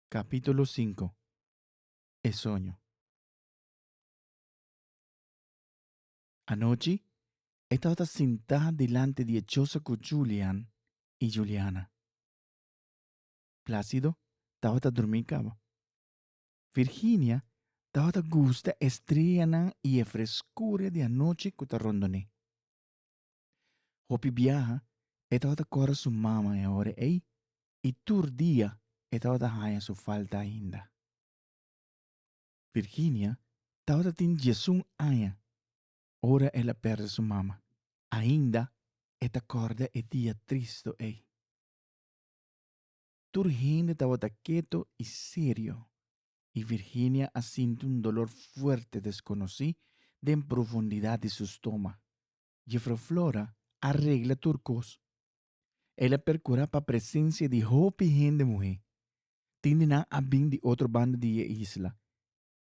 Capítulo sinku E soño Anochi e tabata sintá dilanti di e chosa ku Julian i Juliana. Plácido tabata durmí kaba. Virginia tabata gusta e streyanan i e freskuria di anochi ku ta rondoné. Hopi biaha e tabata kòrda su mama e ora ei i tur dia e tabata haña su falta ainda. Virginia tabata tin diesun aña ora el a pèrdè su mama. Ainda e ta kòrda e dia tristu ei. Tur hende tabata ketu i serio i Virginia a sinti un dolor fuerte desconoci den profundidad di su stoma. Jefro Flora a regla tur cos. El a percura pa presencia di hopi hende muhe. Tin di nan a bin di otro banda di e isla.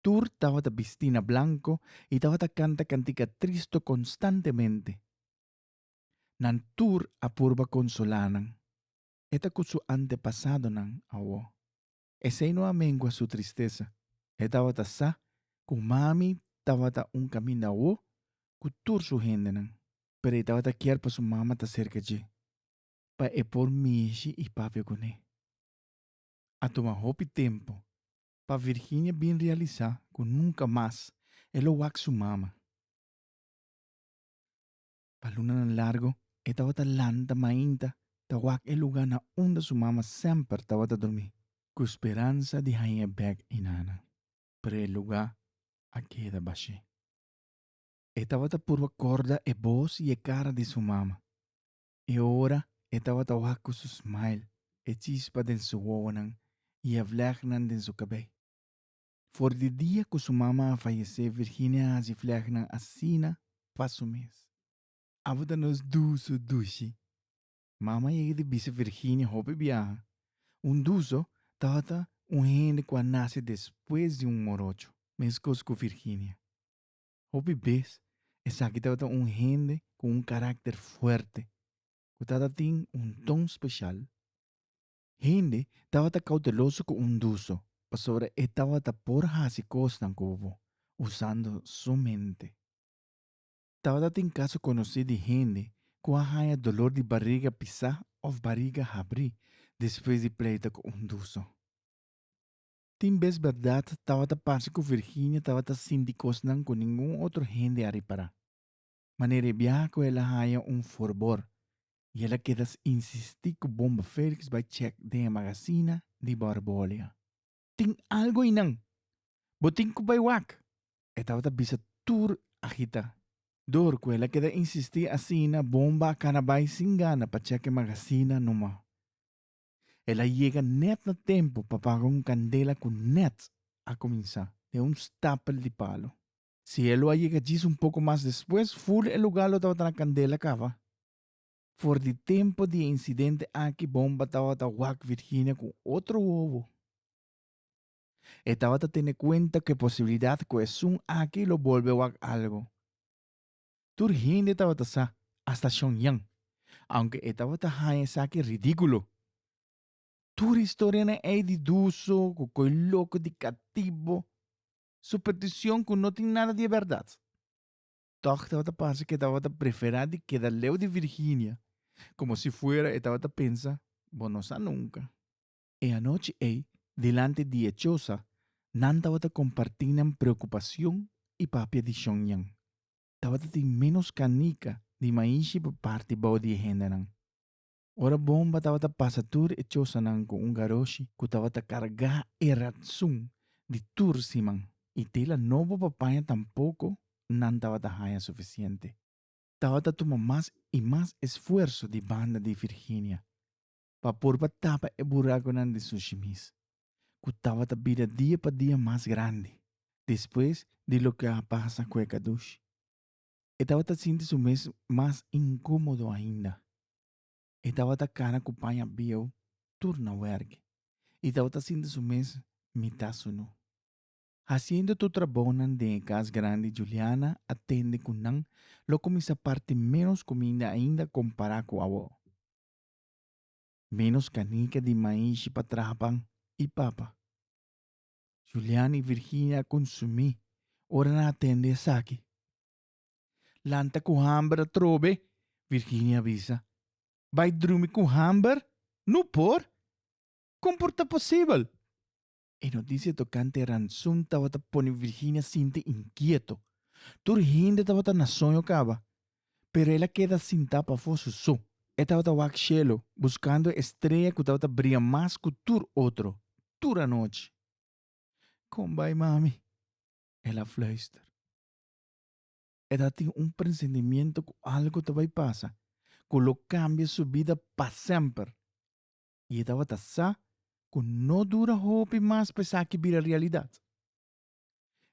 Tur tabata bisti na blanco i tabata canta cantica tristo constantemente. Nan tur a purba consola nan. E ta cu su antepasadonan awo. Esei no a mengua su tristesa. E tabata sa ku mami tabata un kaminda awo ku tur su hendenan, pero e tabata kier pa su mama ta serka dje pa e por mishi i papia kuné. A tuma hopi tempu pa Virginia bin realisá ku nunka mas e lo wak su mama. Pa lunanan largu e tabata lanta mainta ta wak e lugá na unda su mama semper tabata durmí ku speransa di haña e bèk i nana. Pero e lugá a keda bashí. E tabata purba korda e bos i e kara di su mama. E ora e tabata wak ku su smile, e chispa den su wowonan i e vlègnan den su kabei. For di dia ku su mama a fayesé Virginia a hasi flègnan asina pa su mes. Abo ta nos duso dushi. Mama yega di bisa Virginia hopi biaha, Un duso tabata un hende ku a nase despues di un morocho. Meskos ku Virginia. Hopi bes esaki tabata un hende ku un karakter fuerte ku tabata tin un ton speshal. Hende tabata kouteloso ku un duso, pasobra e tabata por hasi kosnan ku bo usando su mente. Tabata tin kaso konosí di hende ku a haña dolor di bariga pisá òf bariga habrí despues di pleito ku un duso. Tin bes bèrdat tabata parse ku Virginia tabata sinti kosnan ku ningun otro hende a ripará. Manera e bia cu el a haya un forbor y el a keda insisti cu Bomba Felix bai check den e magazina di Borbolia. Tin algo eynan! Bo tin cu bai wak? E tabata bisa tur agita. Door cu el a keda insisti asina Bomba a cana bai sin gana pa check e magazina numa. El a yega net na tempo pa paga un candela cu net a cuminsa den un stapel di palo. Si e lo a yega djis un poco mas despues, fur e lugar lo tabata na candela cava. For di tempo di e incidente aki bomba tabata wak Virginia cu otro wowo. E tabata tene cuenta cu e posibilidad cu esun aki lo bolbe wak algo. Tur hende tabata sa, hasta Shongyang, aunke e tabata haya esaki ridiculo. Tur historianan ey di duso, cu coy loco, di catibo. su peticion cu no tin nada di e berdad. Toch tabata parse que e tabata prefera di keda leu di Virginia, como si fuera e tabata pensa, Bo no sa nunca. E anochi ey, dilanti di e chosa, nan tabata comparti nan preocupacion y papia di shonyan. Tabata tin menos canica di maishi pa parti bao di e hendenan. Ora bomba tabata pasa tur e chosanan ku un garoshi ku tabata kargá e ratsun di tur siman i tela nobo pa paña tampoko nan tabata haña sufisiente. Tabata tuma mas i mas esfuerso di banda di Virginia pa por pa tapa e burakunan di Sushimis ku tabata bira dia pa dia mas grandi despues di loke a pasa ku e gadoshi. E tabata sinti su mes mas incómodo ainda. E tabata cara cu paña bieu tur na werk y tabata sinti su mes mitá sunu. Haciendo tur trabaonan den e cas grandi Juliana a tende cu nan lo cuminsa parti menos cuminda ainda compará cu awo. Menos canica di maishi pa traha pan y papa. Julian i Virginia a konsumí ora nan a tende esaki? Lanta ku hamber atrobe, Virginia a bisa. Bai drumi ku hamber? No por! Kon por ta posibel? E notisia tokante e ransun tabata pone Virginia sinti inkieto. Tur hende tabata na soño kaba. pero el a keda sintá pafó su so. E tabata wak shelu, buskando e strea ku tabata bria mas ku tur otro, tur anochi. Kon bai, mami? el a fluister. E tabata tin un presentimiento ku algu ta bai pasa ku lo kambia su bida pa semper, i e tabata sa ku no dura hopi mas pa esaki bira realidat.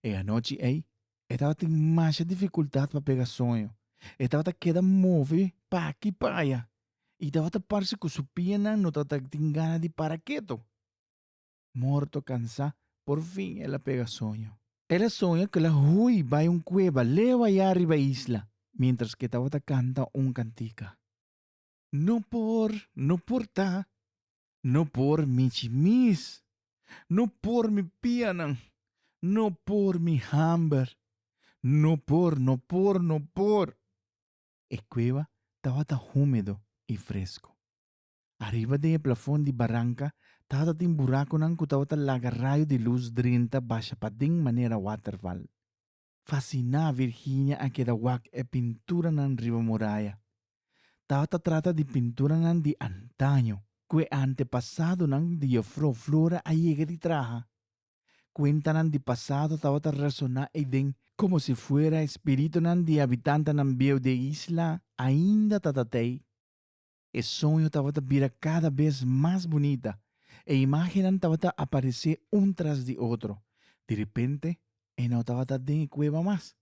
E anochi ei, e tabatin masha difikultat pa pega soño. E tabata keda move pa aki pa aya i tabata parse ku su pianan no tabata tin gana di para ketu. Morto kansá, por fin el a pega soño. El a soña ku el a hui bai un kueba leu aya riba isla, miéntras ku e tabata kanta un kantika. No por, no por ta, no por mi chimis, no por mi pianan, no por mi hamber, no por, no por, no por. E kueba tabata húmedo i fresku. Ariba den e plafon di baranka tabata tin burakunan ku tabata laga rayo di lus drenta basha paden manera waterval. Fasiná, Virginia a keda wak e pinturanan riba muraya. Tabata trata di pinturanan di antaño ku e antepasadonan di Jefrouw Flora a yega di traha. Kuentanan di pasado tabata resoná ei den komo si fuera e spiritunan di habitantenan bieu di e isla ainda ta tatei. E soño tabata bira kada bes mas bunita. E imágennan tabata aparesé un tras di otro. Di ripente e no tabata den e kueba mas.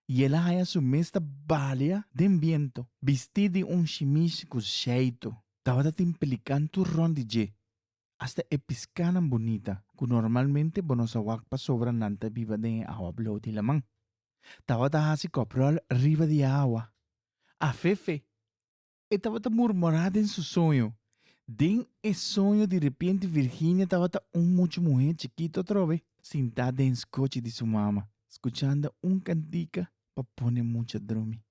I el a haña su mes ta balia den bientu, bistí di un shimish ku sheitu. Tabata tin pelikan tur rònt di dje. Asta e piskánan bunita, ku normalmente bo no sa wak pasobra nan ta biba den e awa blou di laman, tabata hasi kopròl riba di awa. Afefe, e tabata murmorá den su soño. Den e soño direpente Virginia tabata un mucha muhé chikito atrobe, sintá den skochi di su mama, skuchando un kantika pa pone mucha drumi.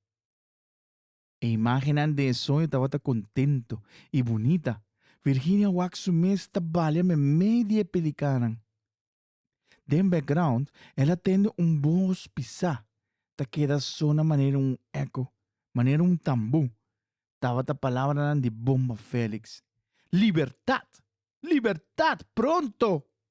E imágennan den e soño tabata kontento i bunita. Virginia wak su mes ta balia memei di e pelikanan. Den background, el a tende un bos pisá, ta keda sona manera un eco, manera un tambú. Tabata palabranan di Bomba Felix. Libertad! Libertad! Pronto!